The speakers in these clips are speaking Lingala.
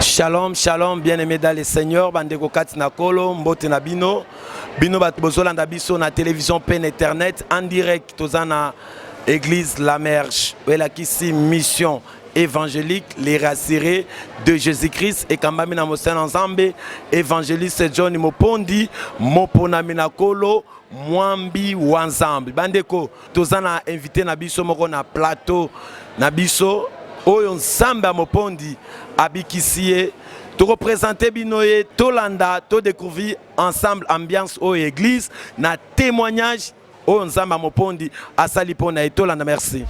Shalom, shalom, bien-aimé dans le Seigneur, bandeko kati na kolo, mbote na bino, bino bato bozolanda biso na télévision pe na internet, en direct, toza na église La Merge, elakisi mission évangélique, les rassurés de Jésus-Christ et Kambami na Mosena Nzambe, évangéliste John Mopondi, Mopona Minakolo, Mwambi Wanzambi. Bandeko, toza na invité na biso moko na plateau na biso oyo nsambe ya mopondi abikisi ye tokopresente bino ye tolanda todécouvrir ensemble ambiance oyo église na témoignage oyo nzambe ya mopondi asali mpo na ye tolanda merci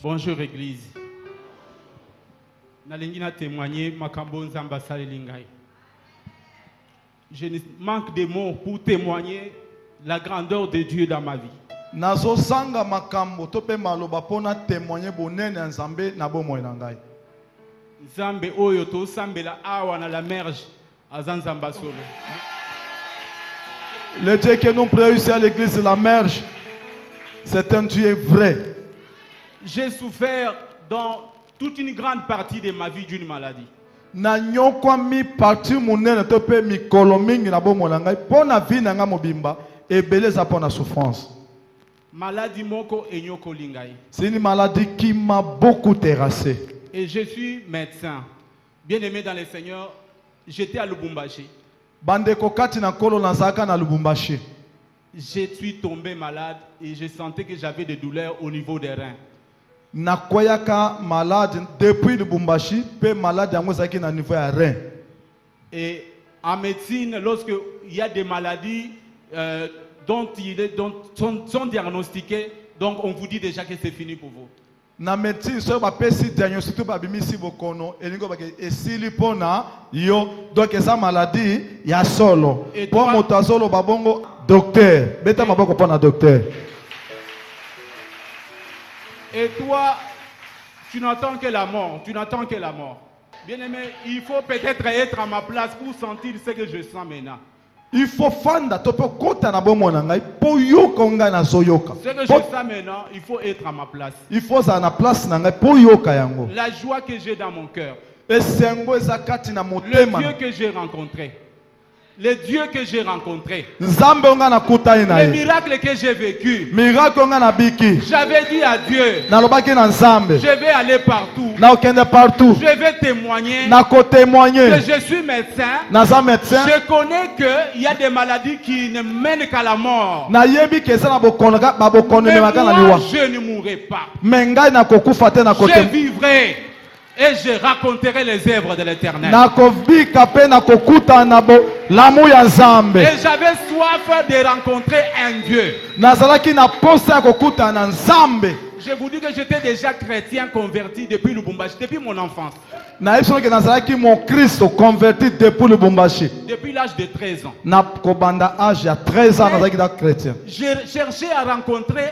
bonjour église nalingi na témoigne makambo oyo nzambe asaleli ngai Je ne manque des mots pour temoigner la grandeur de Dieu dans ma vie. Nazo zanga makambo to pe maloba pona temoigner bonene ya Nzambe na bomoi na ngai. Nzambe oyo to sambela awa na la merge aza Nzamba solo. Le Dieu que nous prions ici à l'église de la merge, c'est un Dieu vrai. J'ai souffert dans Toute une grande partie de ma vie d'une maladie. Na nyokwami partie munene to pe mikolo mingi na bomo na ngai po na vie na ngai mobimba ebele eza po na souffrance. Maladie moko enyokoli ngai. C'est une maladie qui m'a beaucoup terrassé. Et je suis médecin. Bien aimé dans le Seigneur, j'étais à Lubumbashi. Bandeko kati na nkolo nazalaka na Lubumbashi. Je suis tombé malade et je sentais que j'avais des douleurs au niveau des reins. Nakweyaka malade depuis Lubumbashi pe malade yango ezalaki na niveau ya rein. Et en medecine lorsque il y a des maladies euh, dont il est dont sont, sont diagnostiquées donc on vous dit déjà que c'est fini pour vous. na medecine soki bapesi diagnostic to babimisi bokono elingi obake esili mpo na yo donk eza maladi ya solo Et mpo toi- moto azoloba bongo docteur beta maboko mpo na docteur Et toi, tu n'attends que la mort, tu n'attends que la mort. Bien-aimé, il faut peut-être être à ma place pour sentir ce que je sens maintenant. il faut fanda to mpe okota na bomoi na ngai mpo oyoka oyo ngai nazoyoka Ce que je Mpo- sens maintenant, il faut être à ma place. il faut ozala na place na ngai mpo oyoka yango La joie que j'ai dans mon cœur, esengo eza kati na le motema Dieu que j'ai rencontré, Le Dieu que j'ai rencontré. Nzambe onga na kutani na ye. Le miracle que j'ai vécu. Miracle onga na biki. J'avais dit à Dieu. Na lobaki na Nzambe. Je vais aller partout. Na okende partout. Je vais témoigner. Na ko témoigner. Que je suis médecin. Na za médecin. Je connais que il y a des maladies qui ne mènent qu'à la mort. Na yebi que ça na bokono ka ba bokono me makana liwa. Je ne mourrai pas. Mais ngai na kokufa te na kote. Je vivrai. Et je raconterai les œuvres de l'Éternel. Nakobika pe nakokutana na bolamu ya Nzambe. Et j'avais soif de rencontrer un Dieu. Nazalaki na posa ya kokutana na Nzambe. Je vous dis que j'étais déjà chrétien converti depuis Lubumbashi, depuis mon enfance. nayebi soki nazalaki mokristo converti depuis lubumbashi Depuis l'âge de 13 ans. na kobanda age ya 13 ans nazalaki na chrétien J'ai cherché à rencontrer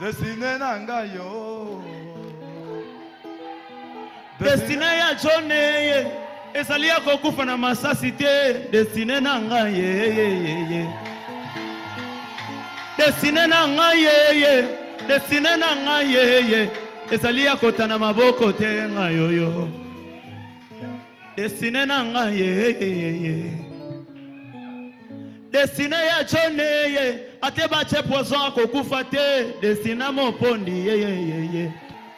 Destine na ngai yo. Destine ya John ye ezali ya kokufa na masasi te. Destine na ngai ye ye ye ye. Destine na ngai ye ye. Destine na ngai ye ye. Ezali ya kotana maboko te ngai yo yo. Destine na nga ye ye ye ye. Destine ya John ye ate bache poison akokufa te. Destine mopondi ye ye ye ye.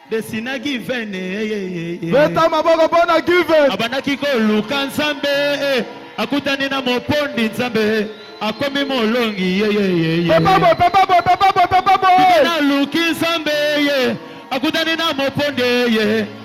Destine given ye ye ye ye. Beta maboko pona given. Abandaki koluka Nzambe akutani na mopondi Nzambe akomi molongi ye ye ye ye. Papa boy, papa boy, papa boy, papa boy. Naluki Nzambe ye akutani na mopondi ye.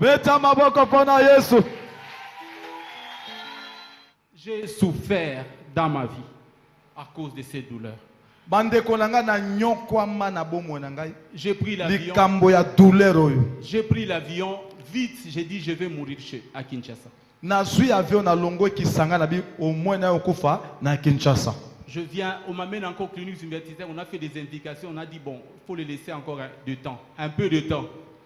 Beta maboko pona Yesu. J'ai souffert dans ma vie à cause de ces douleurs. bandeko na ngai nanyokwama na bomoi na ngai J'ai pris l'avion. likambo ya douleur oyo J'ai pris l'avion vite. J'ai dit je vais mourir chez à Kinshasa. nazwi avion nalongwe kisanga na bi omoi nayo kufa na kinshasa Je viens, on m'amène encore clinique universitaire. On a fait des indications. On a dit bon, faut le laisser encore un- de temps, un peu de temps.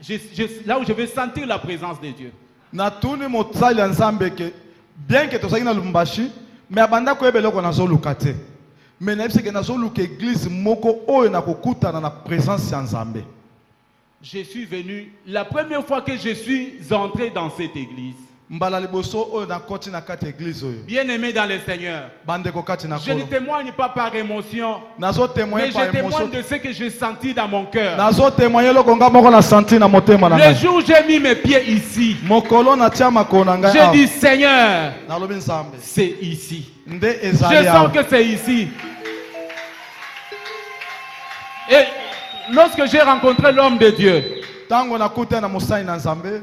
Je, je, là où je vais sentir la présence de Dieu. natuni mosali ya nzambe ke bien ke tozalaki na lubumbashi me abanda koyeba eloko nazoluka te me nayebisi ke nazoluka eglize moko oyo nakokutana na présence ya nzambe Je suis venu, la première fois que je suis entré dans cette église, Mbala liboso oyo na koti na kati ya eglise oyo. Bien aime dans le Seigneur. Ba ndeko kati na kolo. Je ne temoigne pas par emotion. Nazo temoigner mais par emotion. Mais je temoigne de ce que j'ai senti dans mon cœur. Nazo temoigner loko nga moko na senti na motema na ngai. Le jour j'ai mis mes pieds ici. Mokolo na tia makolo na ngai. Je dis Seigneur. Nalobi Nzambe. C'est ici. Nde ezali Je sens que c'est ici. Et lorsque j'ai rencontré l'homme de Dieu. Tango na kuta na mosai na Nzambe.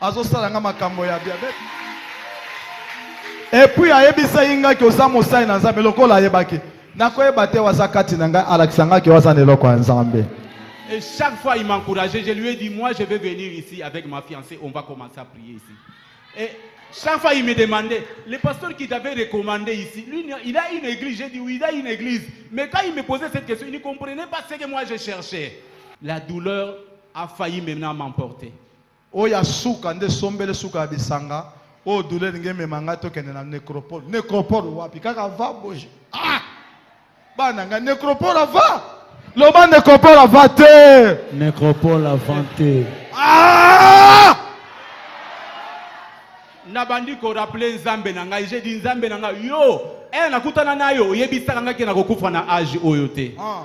azosala nga makambo ya diabete epuis ayebisaki ngai ke oza mosali na nzambe lokola ayebaki nakoyeba te waza kati na ngai alakisa ngai ke waza na eloko ya nzambe Et chaque fois, il m'encourageait. Je lui ai dit, moi, je vais venir ici avec ma fiancée. On va commencer à prier ici. Et chaque fois, il me demandait, le pasteur qui t'avait recommandé ici, lui, il a une église. J'ai dit, oui, il a une église. Mais quand il me posait cette question, il ne comprenait pas ce que moi, je cherchais. La douleur a failli maintenant m'emporter. Oyo ya suka nde sombele suka ya bisanga oyo douleur elingi emema ngai tokende na necropole necropole wapi kaka va boje ah bana ngai necropole va loba necropole va te necropole va te ah nabandi korapele nzambe na ngai je di nzambe na ngai yo e nakutana nayo oyebisaka ngai ke nakokufa na age oyo te ah.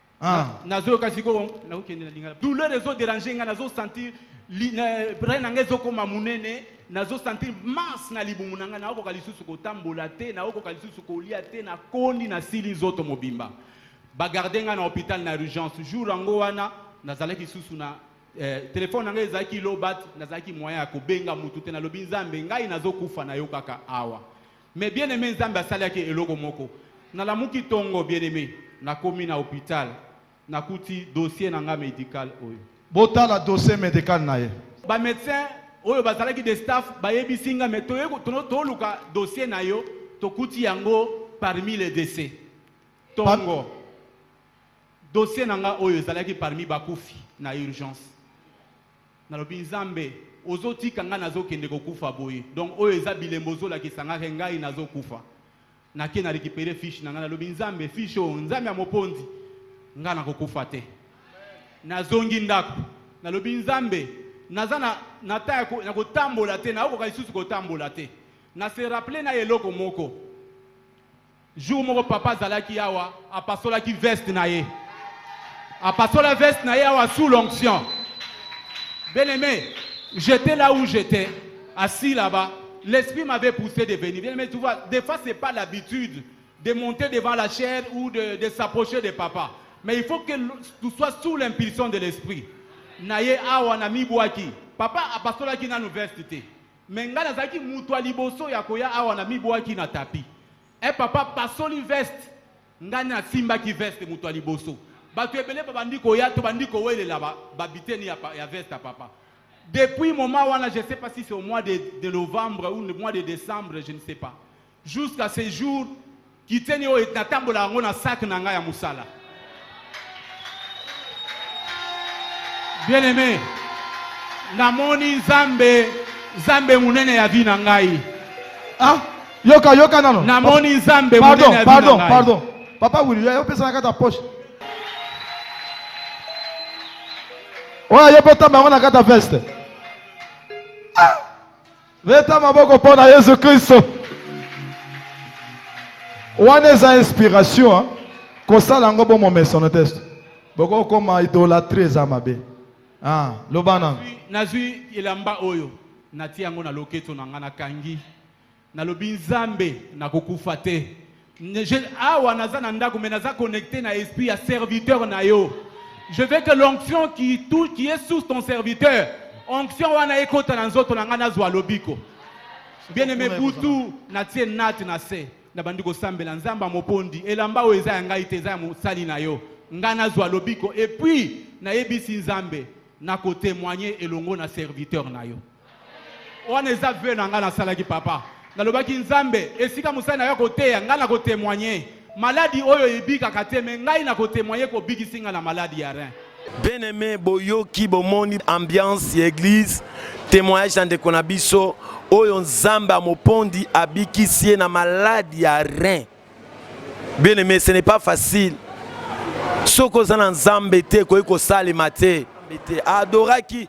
Ah. nazoyoka sikoyo nakokende na lingala douleur ezo dérange ngai nazo sentir brai na ngai ezokoma monene nazo sentir masse na libumu na ngai naokoka lisusu kotambola te naokoka lisusu kolia te nakondi nasili nzoto mobimba bagarde ngai na hôpital na urgence jour yango wana nazalaki lisusu na eh, telefone na ngai ezalaki lobat nazalaki moyen ya kobenga motu te nalobi nzambe ngai nazokufa na yo kaka awa Mais bien aime nzambe asalaki eloko moko nalamuki tongo bien aime nakomi na hopital nakuti dossier na nga medical oyo. Botala dossier medical na ye. Ba medecin oyo bazalaki de staff bayebisi nga mais toye toluka dossier na yo tokuti yango parmi les décès tongo pa... dossier na nga oyo ezalaki parmi bakufi na urgence Nalobi nzambe ozo tika nga nazo kende ko kufa boye donc oyo eza bilembo ozo lakisa nga ke ngai nazo kufa na ke na recupere fiche na nga nalobi nzambe fiche oyo nzambe ya moponzi nga nako kufa te nazongi ndako nalobi nzambe naza na na ta na kotambola te naokoka lisusu kotambola te na se rappeler na eloko moko Jour moko papa azalaki awa, apasolaki veste na ye. Apasola veste na ye awa sous l'onction. Bien-aimé, j'étais là où j'étais, assis là-bas. L'esprit m'avait poussé de venir. Bien-aimé, tu vois, des fois, ce n'est pas l'habitude de monter devant la chair ou de, de s'approcher de papa. Mais il faut que tu sois sous l'impulsion de l'esprit. Naye awa na mibwaki. Papa apasolaki nanu veste te. Mais nga nazalaki mutu ya liboso ya koya awa na mibuaki na tapi. Eh papa pasoli veste. Nga na simbaki veste mutu ya liboso. Batu ebele babandi koya to bandi kowelela ba, ba biteni ya, ya veste ya papa. Depuis moment wana je sais pas si c'est au mois de, de novembre ou le mois de décembre je ne sais pas. Jusqu'à ce jour, kiteni oyo natambola yango na sac na ngai ya mosala. Bien aimé, namoni Nzambe, Nzambe munene ya vie na ngai. Ah, yoka yoka nano. Namoni Nzambe munene ya vie na ngai. Pardon, pardon, pardon. Papa Willy, yo pesa na kata poche. oyo ayebotama yango na kata veste ah! Beta maboko mpo na Yesu Kristo. Wana eza inspiration, kosala yango bo momesano te. Boko koma idolatrie eza mabe. Ah, loba na. Nazwi elamba oyo natie yango na loketo na ngai nakangi. Nalobi Nzambe nakokufa te. Je, awa naza na ndako mais naza connecté na esprit ya serviteur na yo je veux que l'onction qui, tout, qui est sous ton serviteur onction wana ekota na nzoto na ngai nazwa lobiko bien aimé butu natie nati na se nabandi kosambela nzambe ya mopondi elamba oyo eza ya ngai te eza ya mosali na yo ngai nazwa lobiko epuis nayebisi nzambe nakotemoigne elongo na serviteur na yo Wana eza vœux na nga nasalaki papa. Nalobaki Nzambe esika mosali na yo akoteya nga nako temoigner maladi oyo ebikaka te mais ngai nako temoigner ko bikisi nga na maladi ya rein. Bien aime boyoki bomoni ambiance ya eglise temoignage ya ndeko na biso oyo Nzambe amopondi abikisi ye na maladi ya rein. Bien aimé, ce n'est pas facile. Soki oza na Nzambe te, ekoki kosalema te. Adoraki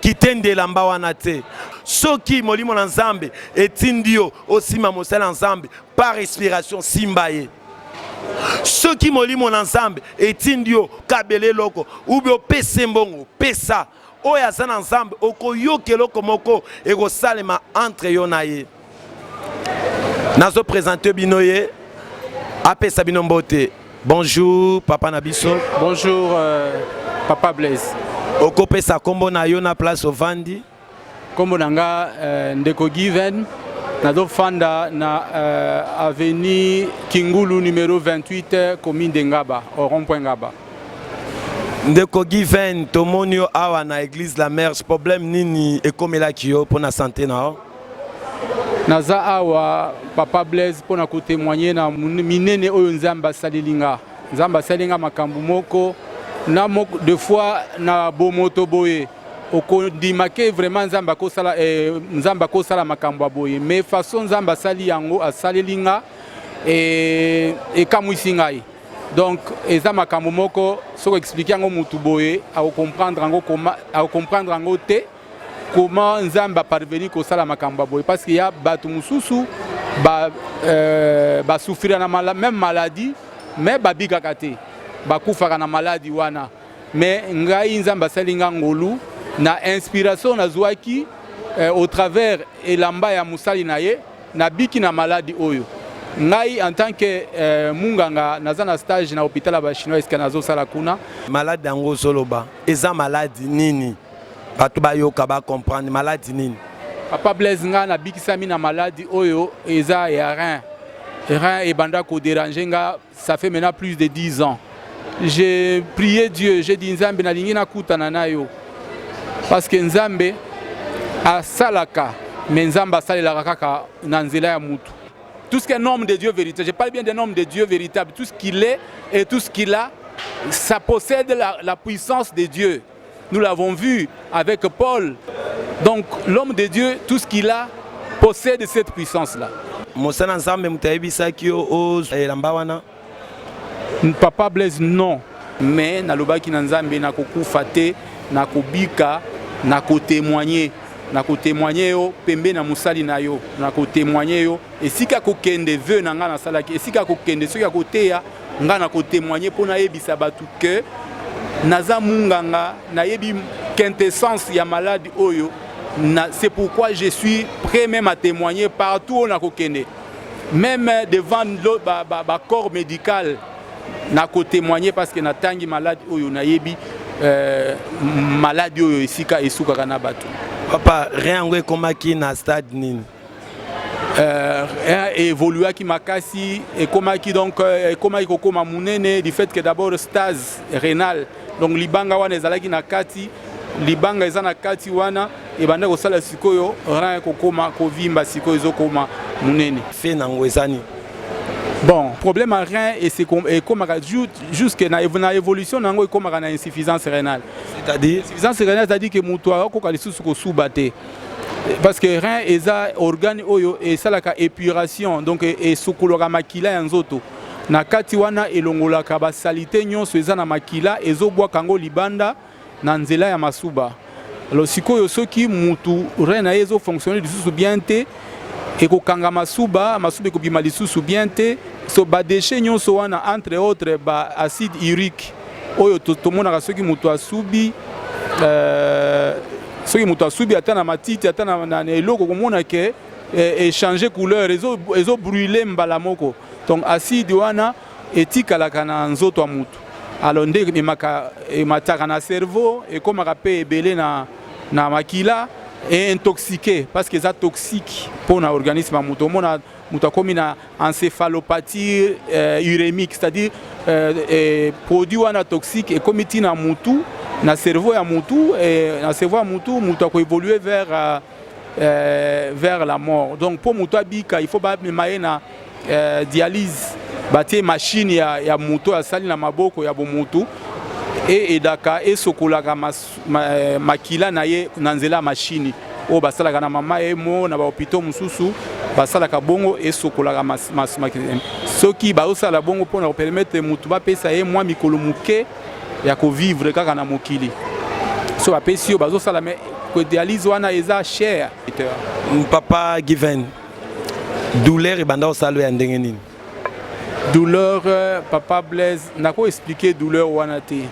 kitende elamba wana te. Soki molimo na Nzambe etindi yo osima mosala na Nzambe par respiration, simba ye. Soki molimo na Nzambe etindi yo kabela eloko, ou bien opese mbongo, pesa. oyo aza na nzambe okoyoka eloko moko ekosalema entre yo na ye nazo présente bino ye apesa bino mbote bonjour papa na biso bonjour euh, papa blaise okopesa nkombo na yo na place ovandi nkombo na nga euh, ndeko given nazofanda na euh, avenue kingulu numero 28 commune de ngaba au rond point ngaba Ndeko Given, tomoni yo awa na Eglise la Merge, problème nini ekomelaki yo mpo na sante na yo? Naza awa Papa Blaise mpo na kotemoigne na minene oyo Nzambe asaleli nga. Nzambe asali nga makambo moko na moko de fois na bomoto boye okondima ke vraiment Nzambe akosala eh, Nzambe akosala makambo ya boye mais façon Nzambe asali yango asaleli nga eh, ekamwisi ngai donc eza makambo moko soki explike yango motu boye akocomprendre yango akocomprendre yango te comment nzambe aparveni kosala makambo ya boye parce que ya bato mosusu basouffrira euh, na mala, même maladie mais babikaka te bakufaka na maladi wana mais ngai nzambe asali ngai ngolu na inspiration nazwaki euh, au travers elamba ya mosali na ye Na biki na maladi oyo. Ngai en tant que euh, munganga naza na stage na hôpital ya ba chinois esika nazo sala kuna. Maladi yango ozoloba eza maladi nini? Bato bayoka ba comprendre maladi nini? Papa Blaise nga nabikisami na maladi oyo eza ya rein. Rein ebanda ko déranger nga Ça fait maintenant plus de 10 ans. J'ai prié Dieu, j'ai dit Nzambe nalingi nakutana na yo. Parce que Nzambe asalaka, mais Nzambe asalelaka kaka na nzela ya mutu. Tout ce qu'un homme de Dieu véritable, je parle bien d'un homme de Dieu véritable, tout ce qu'il est et tout ce qu'il a, ça possède la, la puissance de Dieu. Nous l'avons vu avec Paul. Donc l'homme de Dieu, tout ce qu'il a, possède cette puissance-là. mosana nzambe moto ayebisaki yo oyelamba oh, wana papa blaise non mais nalobaki na nzambe nakokufa te nakobika nakotemoigne nakotemoigne yo pembe na mosali na yo nakotemoigne yo esika ya kokende veu na ngai nasalaki esika ya kokende soki ya koteya ngai na kotemoigne mpo nayebisa bato ke naza munganga nayebi quintessence ya malade oyo na, c'est pourquoi je suis prêt même à témoigner partout oyo nakokende même devant ba, ba, ba corps médical na kotemoigne parce que natangi malade oyo nayebi euh, maladi oyo esika esukaka na bato papa rien yango ekomaki na stade nini euh, hein, évoluaki makasi ekomaki donc euh, ekomaki kokoma munene du fait que d'abord stase renal donc libanga wana ezalaki na kati libanga eza na kati wana ebanda kosala sikoyo rein kokoma kovimba sikoyo ezokoma munene fe nango ezani bon problème ya rein ekomaka jusque na, na évolution na yango ekomaka na insuffisance rénale c'est-à-dire insuffisance rénale c'est-à-dire que moto akokoka lisusu kosuba te parce que rein eza organe oyo esalaka épuration donc esukulaka makila ya nzoto na kati wana elongolaka basalite nyonso eza na makila ezobwaka yango libanda na nzela ya masuba alors sikoyo soki mutu rein na ye ezofonctionne lisusu bien te ekokanga masuba masuba ekobima lisusu bien te so badeshe nyonso wana entre autres ba acide urique oyo tomonaka soki moto asubi euh, soki moto asubi ata na matiti ata na eloko komona ke eh, echange couleur ezobrule mbala moko donc acide wana etikalaka na nzoto ya motu alors nde emaka emataka na cerveau ekomaka mpe ebele na na makila et intoxiqué parce que ça toxique pour na organisme à moto mona moto akomi na encéphalopathie euh, urémique c'est-à-dire euh, euh, produit wana toxique ekomi ti na mutu na cerveau ya mutu et na cerveau ya mutu moto akoévolue vers euh, euh, vers la mort donc mpo moto abika il faut bamema ye na euh, dialyse batie machine ya, ya moto asali na maboko ya bomotu e edaka esokolaka mas, eh, makila na ye na nzela ya mashini oyo basalaka na mama ye mo na bahopitau mosusu basalaka bongo esokolaka eh, soki bazosala bongo mpo na kopermetre motu bapesa ye mwa mikolo moke ya kovivre kaka na mokili so bapesi yo bazosala me dialyse wana eza cher papa given douleur ebanda osalo ya ndenge nini douleur euh, papa blaise nako expliquer douleur wana te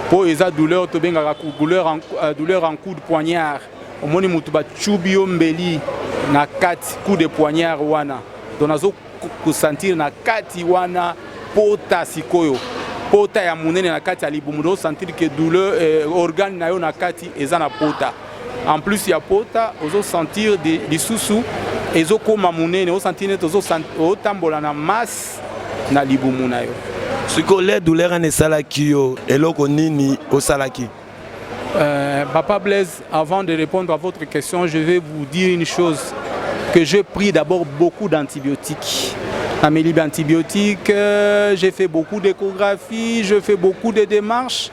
mpo eza douleur tobengaka douleur en, euh, douleur en coup de poignard omoni motu bacubi yo mbeli na kati coup de poignard wana donc nazo kosentir na kati wana pota sikoyo pota ya monene na kati ya libumu osentir ke douleur eh, organe na yo na kati eza na pota en plus ya pota ozo sentir lisusu ezokoma monene osantir neti otambola na masse na libumu na yo sikoyo le douleur wana esalaki yo eloko nini osalaki Euh, Papa Blaise, avant de répondre à votre question, je vais vous dire une chose, que j'ai pris d'abord beaucoup d'antibiotiques. Amélie antibiotiques, euh, j'ai fait beaucoup d'échographies, je fais beaucoup de démarches.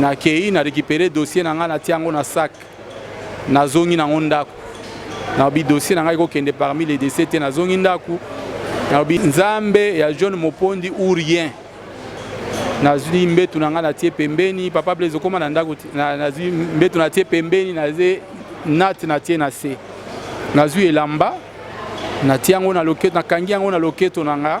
nakei na récupere dossier na ngai natia yango na sac nazongi nango ndako nalobi dossier na ngai kokende parmi les décès te nazongi ndako nalobi nzambe ya jeune mopondi ou rien nazwi mbetu na ngai natie pembeni papa blaise okoma na ndako nazwi mbetu natie pembeni naze nati natie na se nazwi elamba natie yango na loketo nakangi yango na loketo na ngai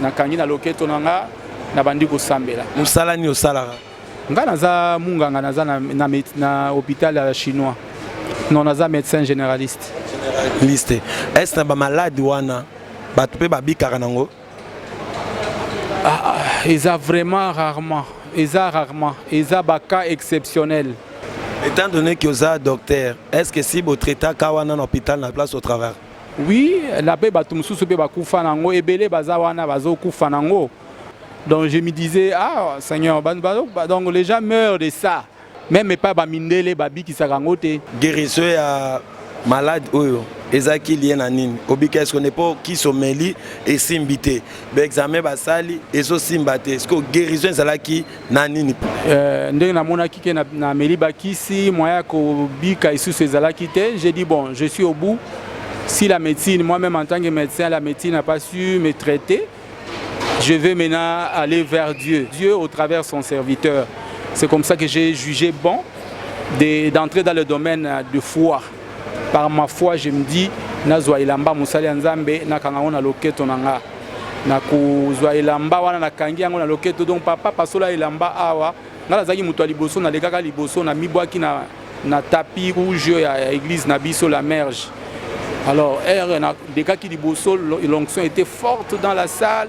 Nakangi na loketo na nga, nabandi kosambela. Mosala nini osalaka? Nga naza munganga, naza na, na, na hôpital ya chinois. Non, naza médecin généraliste. Liste. Est-ce que na ba malade wana bato mpe babikaka nango? Ah, ah, eza vraiment rarement. Eza rarement. Eza ba cas exceptionnels. Étant donné que oza docteur, est-ce que si bo traitaka wana na hôpital na place au travail? Oui, la paix bato mosusu pe bakufa nango ebele baza wana bazokufa nango. Donc je me disais ah Seigneur, donc les gens meurent de ça. Même epai ba mindele babikisaka yango te. Guérison ya malade oyo ezalaki lie na nini obika eske ne mpo kisi omeli esimbi te baexame basali ezosimba te sikoyo guérison ezalaki na nini euh, ndenge namonaki ke nameli bakisi moyen ya kobika isusu ezalaki te j'ai dit bon je suis au bout si la médecine moi-même en tant que médecin la médecine n'a pas su me traiter je vais maintenant aller vers Dieu Dieu au travers son serviteur c'est comme ça que j'ai jugé bon d'entrer dans le domaine de foi Par ma foi, je me dis, nazwa elamba mosali ya Nzambe, nakanga yango na loketo na nga. Nakozwa elamba wana nakangi yango na loketo, donc papa pasola elamba awa. Nga nazalaki moto ya liboso, nalekaka liboso, namibwaki na, na tapis rouge ya, ya église na biso la merge. Alors, heure, na, dekaki liboso, l'onction était forte dans la salle.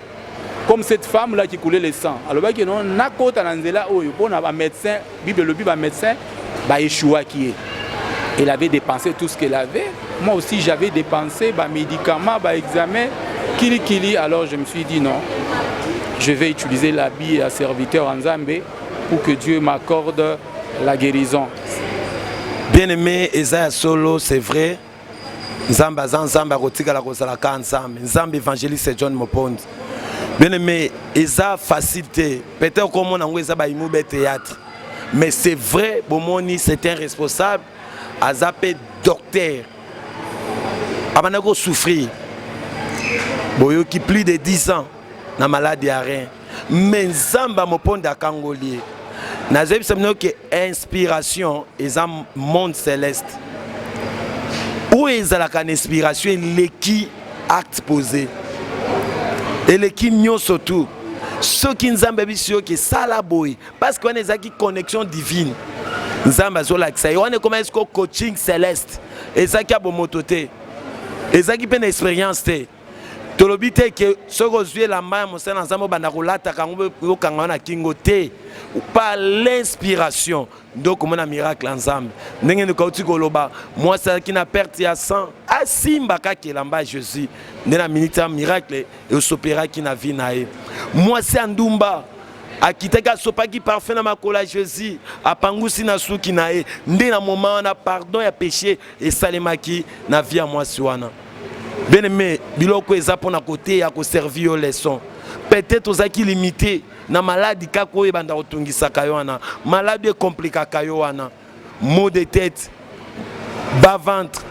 comme cette femme là qui coulait le sang alobaki non nakota na nzela oyo mpo na bamédecin bible elobi bamédecin baéchouaki ye elle avait dépensé tout ce qu'elle avait moi aussi j'avais dépensé bamédicaments baexamen kilikili alors je me suis dit non je vais utiliser l'habit ya serviteur ya nzambe pour que dieu m'accorde la guérison bien aimé eza ya solo c'est vrai nzambe aza nzambe akotikala kozala ka nzambe nzambe évangéliste john mopondi bien aimé eza facile te peut-être okomona yango eza bayimu be théâtre mais c'est vrai bomoni c'est un responsable aza mpe docteur abanda kosouffrir boyoki plus de 10 ans na malade ya rein me nzambe amoponda akangoli ye nazoyebisa bino ke inspiration eza monde celeste oyo ezalaka na inspiration eleki acte posé eleki nyonso tu soki nzambe abisi yo ke sala boye parceke wana ezalaki connexion divine nzambe azolakisa ye wana ekomaki siko coaching celeste ezalaki ya bomoto te ezalaki mpe na experience te tolobi te ke soki ozwi elamba ya mosala na nzambe obanda kolataka yango okanga wana kingo te par l'inspiration nde okomona miracle ya nzambe ndenge ndeko auti koloba mwasi azalaki na perte ya sang asimba kaka elamba ya jésus nde na miniti ya miracle esoperaki na vie na ye mwasi ya ndumba akitaki asopaki parfum na makolo ya jésus apangusi na suki na ye nde na moma wana pardon ya péché esalemaki na vie ya mwasi wana bien aimé biloko eza mpona koteya koservi yo leçon peut-être ozalaki limité na maladi kaka oyo ebanda kotungisaka yo wana maladi ekomplikaka yo wana mot de tête bas ventre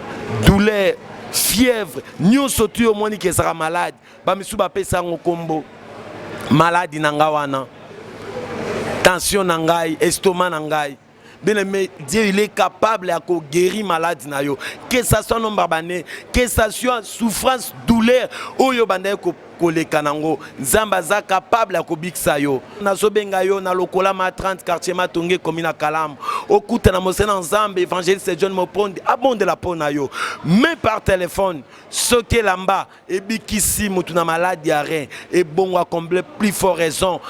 douleur fièvre nyonso tu omoni ke ezalaka malade bamisusu bapesa yango nkombo maladi na ngai wana tension na ngai estoma na ngai bien aimé dieu il est capable ya koguérir malade na yo que ça soit nombre bane que ça soit souffrance douleur oyo bandaki ko koleka nango nzambe aza capable ya kobikisa yo nazobenga yo na lokola ma 30 quartier matonge ekomi na kalamu okuta na mosena nzambe évangéliste john mopondi abondela mpo na yo me par telefone soki elamba ebikisi mutu na malade ya rein ebongo a combler plus fort raison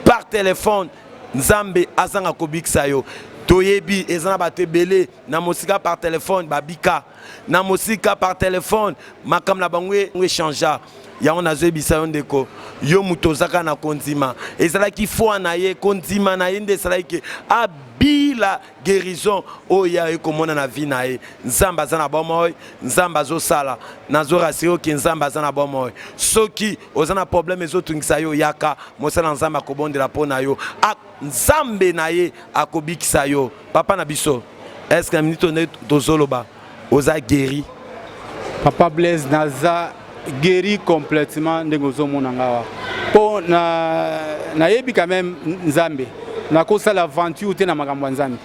par telephone nzambe azanga kobikisa yo toyebi eza na bato ebele na mosika par telefone babika na mosika par telefone makambo na bango e, echangea yango nazoyebisa yo ndeko yo moto ozaka na kondima ezalaki foi na ye kondima na ye nde esalaki ke abila guérison oyo ye aye komona na vie na ye nzambe aza na bomoi nzambe azosala nazorasire oke nzambe aza na bomoi soki oza na problème ezotungisa yo yaka mosala na nzambe akobondela mpo na yo nzambe na ye akobikisa yo papa na biso eske minute onde tozoloba oza guéri papa blaise naza guéri complètement ndenge ozomona ngawa mpo nayebi na quand même nzambe nakosala aventure te na makambo ya nzambe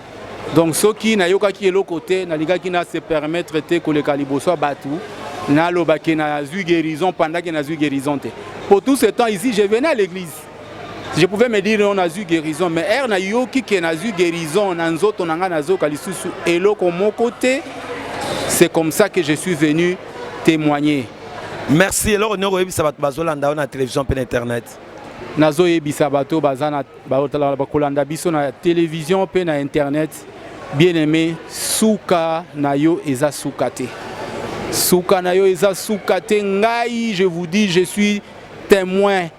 donc soki nayokaki eloko te nalingaki na se permettre te koleka liboso ya bato naloba ke nazwi guérison pendant ke nazwi guérison te pour tout ce temps ici je venais à l'église je pouvais me dire on azwi guérison mais ere nayoki ke nazwi guérison na nzoto na ngai nazoyoka lisusu eloko moko te c'est comme ça que je suis venu témoigner merci eloko nini okoyebisa bato bazolanda yo na télévision mpe na internet nazoyebisa bato baza na bakolanda biso na télévision mpe na internet bien aimé suka na yo eza suka te suka na yo eza suka te ngai je vous dis je suis témoin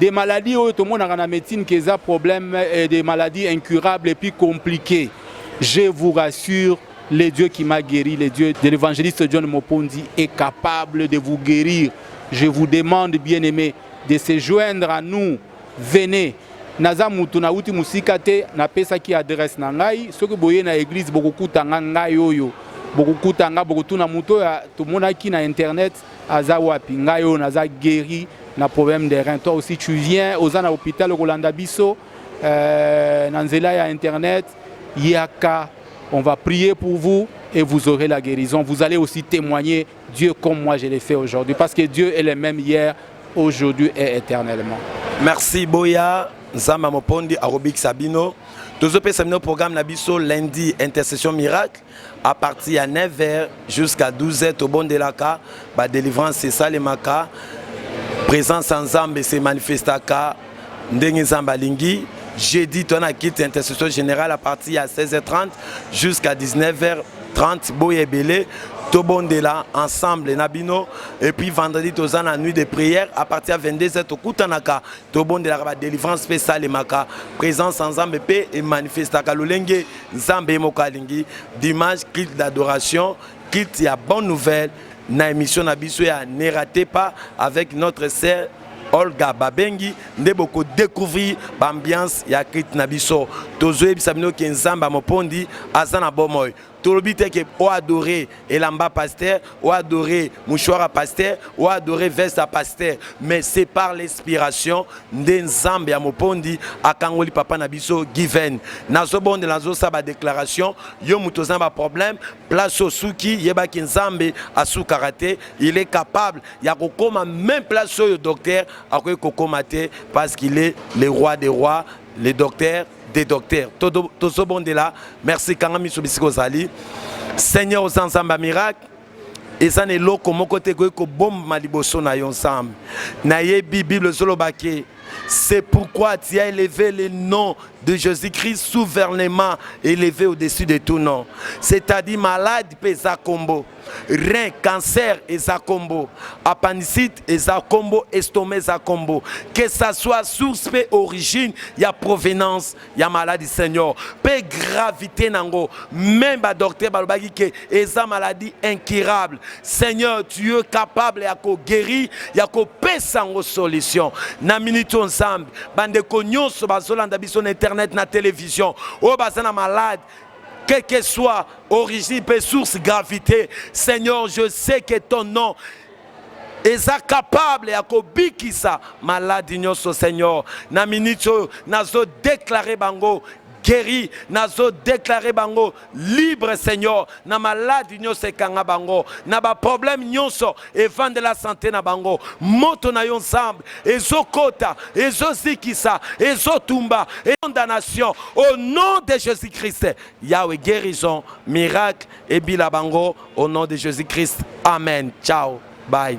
des maladies oyo tomonaka na médecine que eza problème euh, des maladies incurables et puis compliquées je vous rassure le Dieu qui m'a guéri le Dieu de l'évangéliste John Mopondi est capable de vous guérir je vous demande bien aimé de se joindre à nous venez naza mutu nauti mosika te napesaki adresse na ngai soki boye na église bokokuta nga ngai oyo bokokuta nga bokotuna moto oyo tomonaki na internet aza wapi ngai oyo naza guéri na problème de rein toi aussi tu viens oza na hôpital okolanda biso euh, na nzela ya internet yaka on va prier pour vous et vous aurez la guérison vous allez aussi témoigner Dieu comme moi je l'ai fait aujourd'hui parce que Dieu est le même hier aujourd'hui et éternellement merci boya nzambe mopondi akobikisa bino tozopesa bino programme na biso lundi intercession miracle à partir ya 9h jusqu'à 12h tobondelaka ba délivrance esalemaka présence ya nzambe se manifestaka ndenge nzambe alingi jeudi toa na kiti ya intercession générale à partir ya 16h30 jusqu'à 19h30 boye ebele tobondela ensemble na bino et puis vendredi toza na nuit de prière à partir ya 22h tokutanaka tobondelaka ba délivrance mpe esalemaka présence ya nzambe mpe emanifestaka lolenge nzambe ye moko alingi dimanche culte d'adoration culte ya bonne nouvelle na émission na biso ya ne rate pas avec notre sœur olga babengi nde bokodecouvrir baambiance ya culte na biso tozoyebisa bino ke nzambe ya mopondi aza na bomoi tolobi te ke oadore elamba pasteur ou adorer mouchoir à pasteur ou adorer veste à pasteur mais c'est par l'inspiration nde nzambe ya mopondi akangoli papa na biso given nazobondela nazosa badéclaration yo moto oza na baproblème place osuki yebaki nzambe asukaka te il est capable ya kokoma même place oyo docteur akoki kokoma te parce qu'il est le roi des rois le docteur de docteur tozobondela merci kanga miso bisika ozali seigneur oza nzambe ya miracle eza na eloko moko te ekoki kobomba liboso na yo nzambe nayebi bible ezoloba ke c'est pourquoi tu as élevé le nom de jésus-christ souverainement élevé au-dessus de tout nom c'est-à-dire malade mpe eza kombo rein cancer eza kombo appendicite eza kombo estomac eza kombo que ça soit source mpe origine ya provenance ya maladie seigneur mpe gravité nango même badocteur balobaki ke eza maladie incurable seigneur tu es capable ya koguérir ya kopesa yango solution na minute oyo nzambe bandeko nyonso bazolanda biso na internet na télévision oyo baza na malade quelle que soit origine et source gravité, Seigneur, je sais que ton nom est capable ya kobikisa maladi nyonso seigneur na minute oyo nazo déclare bango guéri nazo déclare bango libre seigneur na maladi nyonso ekanga bango na baproblème nyonso evandela sante na bango moto na yo nzambe ezokota ezozikisa ezotumba condamnation au nom de jésus christ yawe guérison miracle ebila bango au nom de jésus christ amen ciao bye